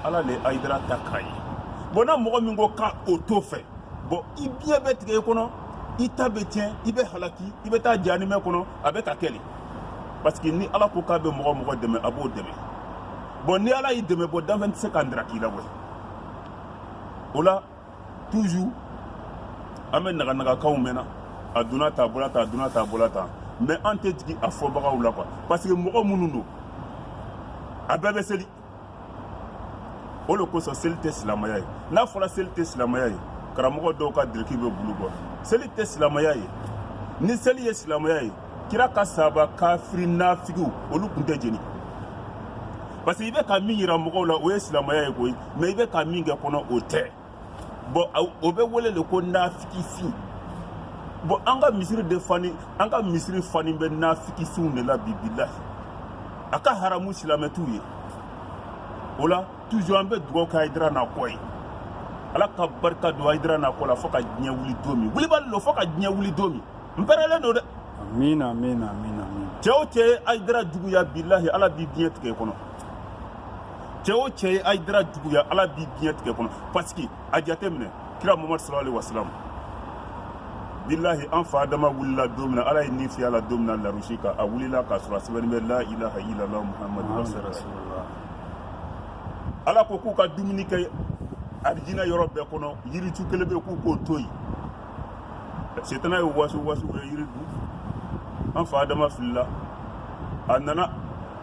ala le Haïdara ta k'a ye bon n'a mɔgɔ min ko k'a o t'o fɛ bon i biɲɛ bɛ tigɛ i kɔnɔ i ta bɛ tiɲɛ i bɛ halaki i bɛ taa janimɛ kɔnɔ a bɛ ka kɛ le parce que ni ala ko k'a bɛ mɔgɔ mɔgɔ dɛmɛ a b'o dɛmɛ bon ni ala y'i dɛmɛ bon danfɛn tɛ se ka ndira k'i la koyi o la toujours an bɛ naganagakanw mɛn na a donna tan a bɔra tan a donna tan a bɔra tan mais an tɛ jigin a fɔbagaw la quoi parce que mɔgɔ minnu don a bɛɛ bɛ seli o de kosɔn seli tɛ silamaya ye n'a fɔra seli tɛ silamaya ye karamɔgɔ dɔw ka diriki bɛ bulu bɔ seli tɛ silamaya ye ni seli ye silamaya ye kira ka sahaba kafiri nafigiw olu tun tɛ jeni parce que i bɛ ka min yira mɔgɔw la o ye silamaya ye koyi mais i bɛ ka min kɛ kɔnɔ o tɛ bon o bɛ wele de ko nafikisi bon an ka misiri de fani an ka misiri fani bɛ nafikisiw de la bi bilahi a ka haramu silamɛ t'u ye o la toujours an bɛ dugawu kɛ Haïdara n'a kɔ ye ala ka barika don Haïdara n'a kɔ la fo ka diɲɛ wuli don min wulibali don fo ka diɲɛ wuli don min n pɛrɛlen don dɛ amina amina amina cɛ o cɛ ye Haïdara juguya bilahi ala b'i biɲɛ tigɛ i kɔnɔ cɛ o cɛ ye Haïdara juguya ala b'i biɲɛ tigɛ i kɔnɔ parce que a jateminɛ kira muhamadu sallallahu alaihi wasallam bilahi an fa adama wulila don min na ala ye ni fiyɛ a la don min na larusi kan a wulila k'a sɔrɔ a sɛbɛnnen bɛ la ilaha illallah muhammadu rasulullah ala ko k'u ka dumuni kɛ arijina yɔrɔ bɛɛ kɔnɔ yiritu kelen bɛ k'u k'o to yen setana ye wasuwasu u ye yiri dun an fa adama filila a nana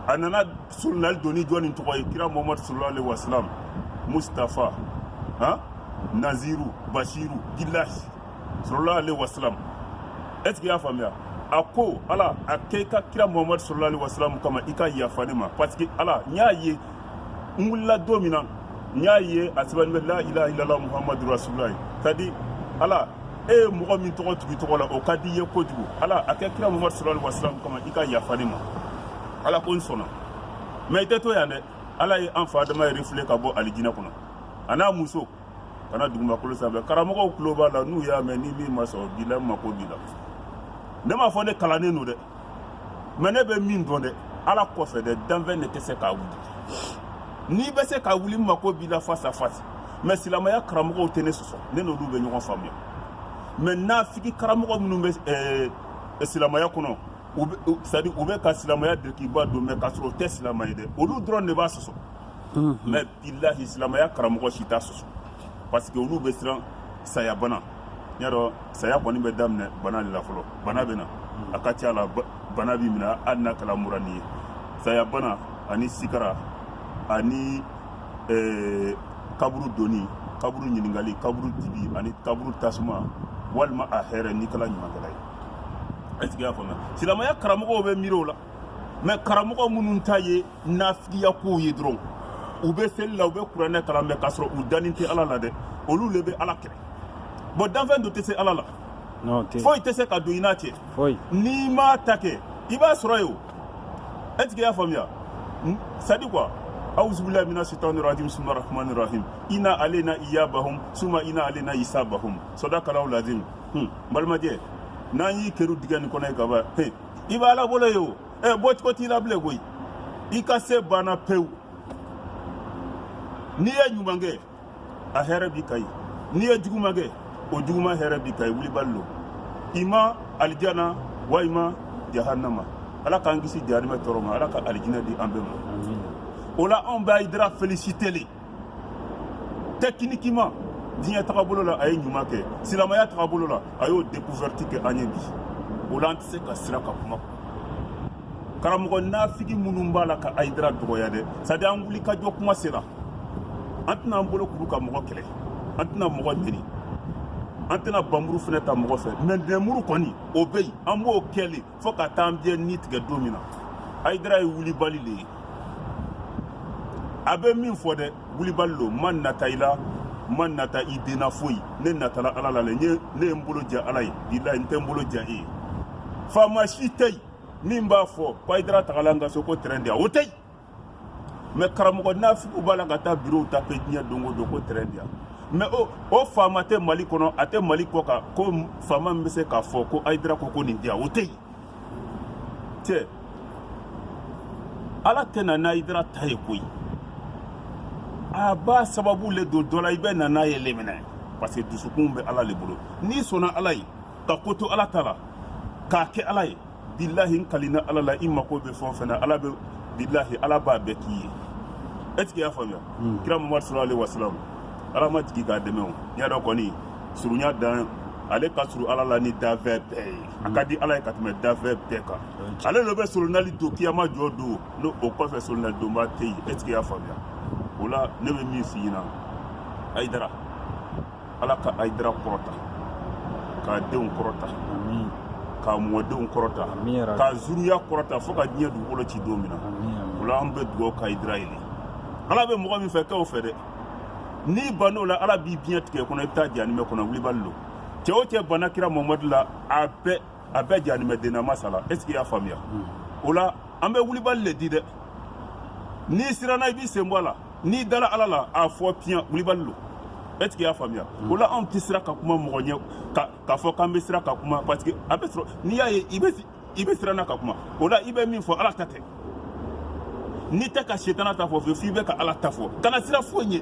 a nana Surununali don ni jɔn nin tɔgɔ ye kira mama sula wa mutafa h nanzsiriri basiri jila sula wa e y'a faamuya a ko ala a ke ka kira mama sula wa kama i ka yafa ne ma pa que ala n y'a ye n wulila don min na n y'a ye a sɛbɛn bɛ layilahila muhamadula ka di ala e ye mɔgɔ min tɔgɔ tugu i tɔgɔ la o ka di i ye kojugu ala a kɛ kira muhamadu sallallahu alaihi wasallam kama i ka yafa ne ma ala ko n sɔnna mais i tɛ to yan dɛ ala ye an fa adama ye refouler ka bɔ alijinɛ kɔnɔ a n'a muso ka na dugumakolo sanfɛ karamɔgɔw tulo b'a la n'u y'a mɛn ni min ma sɔn bi la n mako b'i la ne m'a fɔ ne kalannen don dɛ mais ne bɛ min dɔn dɛ ala kɔfɛ dɛ danfɛn de tɛ se ka wuli n'i bɛ se ka wuli n mako b'i la face à face mais silamɛya karamɔgɔw tɛ ne sɔsɔ ne n'olu bɛ ɲɔgɔn faamuya mais nafigi karamɔgɔ minnu bɛ ɛɛ eh, silamɛya kɔnɔ u bɛ c'est à dire u bɛ ka silamɛya dirikiba don mais k'a sɔrɔ o tɛ silamɛ ye dɛ olu dɔrɔn de b'a sɔsɔ mais bilahi silamɛya karamɔgɔ si t'a sɔsɔ parce que olu bɛ siran saya bana n y'a dɔn saya kɔni bɛ daminɛ bana de la fɔlɔ bana bɛ na hmm. a ka ca la bana b'i minɛ hali n'a kɛra mura nin ye saya bana ani sikara ani eh, kaburu doni kaburu ɲininkali kaburu dibi ani kaburu tasuma walima a hɛrɛ n'i kɛra ɲumankɛla ye est ce que y'a faamuya silamɛya karamɔgɔw bɛ miiri o la mais karamɔgɔ minnu ta ye nafigiya kow ye dɔrɔn u bɛ seli la u bɛ kuranɛ kalan mais k'a sɔrɔ u danin tɛ ala la dɛ olu le bɛ ala kɛlɛ bon danfɛn dɔ tɛ se ala la foyi tɛ se ka don i n'a cɛ n'i m'a ta kɛ i b'a sɔrɔ yen o est ce que i y'a faamuya c'est à dire quoi awuzubilayi mina sitani rajim bisimila rahmani rahim ina alena iyabahum suma ina alena isabahum sadakalahu lazim n balimajɛ n'an y'i kerun dingɛ nin kɔnɔ yen ka ban i b'ala bolo yen o e bɔcogo t'i la bilen koyi i ka se banna pewu n'i ye ɲuman kɛ a hɛrɛ b'i kan yen n'i ye juguman kɛ o juguman hɛrɛ b'i kan yen wulibali lo i ma alijana walima jahannama ala k'an kisi jahanimɛ tɔɔrɔ ma ala ka alijinɛ di an bɛɛ ma o la anw b'ayidara féliciter le techniquement diɲɛ tagabolo la a ye ɲuman kɛ silamɛya tagabolo la a y'o découverte kɛ an ye bi o la an tɛ se ka siran ka kuma karamɔgɔ nafigi minnu b'a la ka ayidara dɔgɔya dɛ c'est à dire an wuli ka jɔ kuma sera an tɛna an bolo kuru ka mɔgɔ kɛlɛ an tɛna mɔgɔ neni an tɛna banmuru fɛnɛ ta mɔgɔ fɛ mais nɛnmuru kɔni o bɛ yen an b'o kɛ le fo ka taa an biɲɛ ni tigɛ don min na ayidara ye wulibali le ye a bɛ min fɔ dɛ wulibali lo ma nata i la ma nata i den na foyi ne natala ala la le ne ye n bolo ja ala ye bilayi n tɛ n bolo ja e ye faama si tɛ yen min b'a fɔ ko ayidara tagala n ka so ko tɛrɛn di yan o tɛ yen mais karamɔgɔ nafigiw b'a la ka taa birow taper diɲɛ don o don ko tɛrɛn di yan mais o o faama tɛ mali kɔnɔ a tɛ mali kɔkan ko faama min bɛ se k'a fɔ ko ayidara ko ko nin di yan o tɛ yen cɛ ala tɛ na n'ayidara ta ye koyi a b'a sababu le don dɔ la i bɛ na n'a ye le minɛ parce que dusukun bɛ ala le bolo n'i sɔnna ala ye ka ko to ala ta la k'a kɛ ala ye bilahi n kalina ala la i mako bɛ fɛn o fɛn na ala bɛ bilahi ala b'a bɛɛ k'i ye est ce que i y'a faamuya kira mamadu salalahu alayi wasalamu ala ma jigin k'a dɛmɛ o n y'a dɔn kɔni surunya dan ale ka surun ala la ni danfɛn bɛɛ ye a ka di ala ye ka tɛmɛ danfɛn bɛɛ kan ale le bɛ solonali don kiyama jɔ don n'o o kɔfɛ solonali donba tɛ yen est ce que i y'a faamuya o la ne bɛ min f'i ɲɛna ayidara ala ka ayidara kɔrɔta k'a denw kɔrɔta k'a mɔdenw kɔrɔta k'a zuruya kɔrɔta fo ka diɲɛ dugukolo ci don min na o la an bɛ dugawu ka ayidara ye ala bɛ mɔgɔ min fɛ kɛ o fɛ dɛ n'i ban'o la ala b'i biɲɛ tigɛ kɔnɔ i bɛ taa jahanimɛ kɔnɔ wulibali lo cɛ o cɛ banna kira mamadu la a bɛɛ a bɛɛ jahanimɛ dennama sala est ce que y'a faamuya o la an bɛ wulibali le di dɛ n'i siranna i b'i sen bɔ a la n'i dala ala la a fɔ piyan wulibali lo est ce que y'a faamuya o la anw tɛ sira ka kuma mɔgɔ ɲɛ k'a fɔ k'an bɛ sira ka kuma parce que a bɛ sɔrɔ n'i y'a ye i bɛ siranna ka kuma o la i bɛ min fɔ ala ta tɛ n'i tɛ ka setana ta fɔ f'i bɛ ka ala ta fɔ kana sira foyi ɲɛ